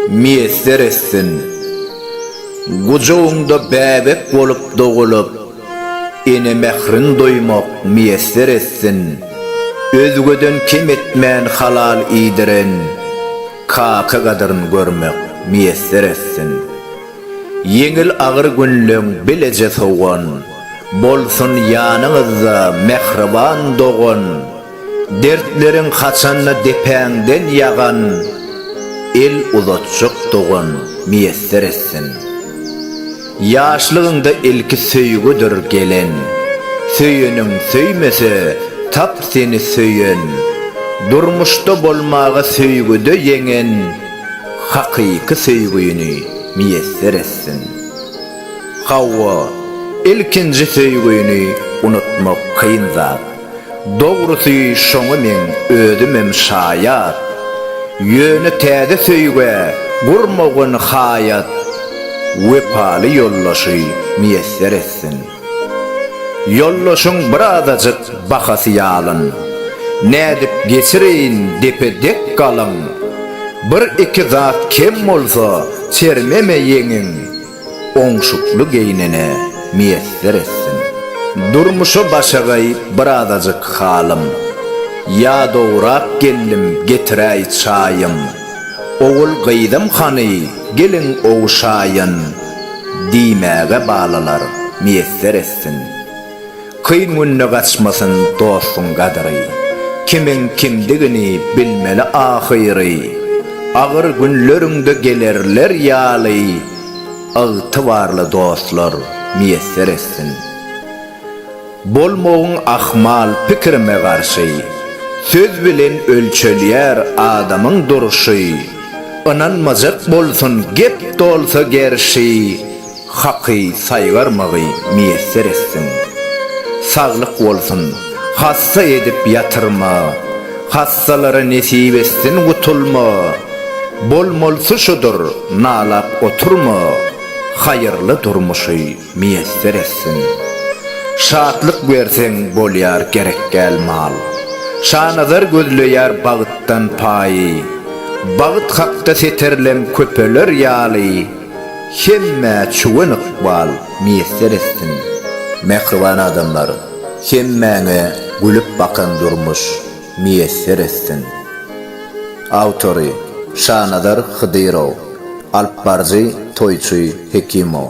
miýesser etsin. Gujagyňda bäbek bolup dogulyp, ene mährin duýmak miýesser etsin. Özgeden kem etmän halal iýdiren kaka gadyryn görmek miýesser etsin. Ýeňil agyr günleň bileje sowan, bolsun ýanyňyzda mähriban dogan. Dertleriň haçanda depäňden ýagan, El uzatjak dogan miýesser etsin. Ýaşlygyňda ilki söýgüdir gelen, Söýeniň söýmese, tap seni söýen, Durmuşda bolmaga söýgüde ýeňen, Hakyky söýgüni miýesser etsin. Hawa, ilkinji söýgüni unutmak kyn zat. Dogrusy şoňa meň özümem şaýat. Ýöne täze söýgä gurmagyn haýat Wepaly ýoldaşy miýesser etsin. Ýoldaşyň bir azajyk bahasy ýalyn. Nädip geçireýin depe dek galyň. Bir iki zat kem bolsa çermeme ýeňiň. oňşukly geýnene miýesser etsin. Durmuşa başagaý birazajyk halym, ýadawrak geldim getiräý çaýym, ogul-gyzym hany geliň ogşaýyn, diýmäge balalar miýesser etsin. Kyn günde gaçmasyn dostuň gadyry, Kimiň kimdigini bilmeli ahyry. Agyr günleriňde gelerler ýaly, Ygtybarly dostlar miýesser etsin. Bolmagyn ahmal pikirime garşy, Söz bilen ölçelýär adamyň durşy. Ynanmajak bolsun gep dolsa gerşi. Haky saýgarmagy miýesser etsin. Saglyk bolsun, hassa edip ýatyrma, Hassalara nesip etsin gutulma. Bolmalysy şudur, nalap oturma, Haýyrly durmuşy miýesser etsin. Şatlyk berseň bolýar gerekgäl mal, Şanazar gözleýär bagtdan paýy, Bagt hakda seterlem köpeler ýaly. Hemmä çuwen ykbal miýesser etsin. Mähriban adamlar, hemmäňe gülüp bakan durmuş miýesser etsin! Awtory, Şanazar Hydyrow, Alypbaryjy Toýçy Hekimow.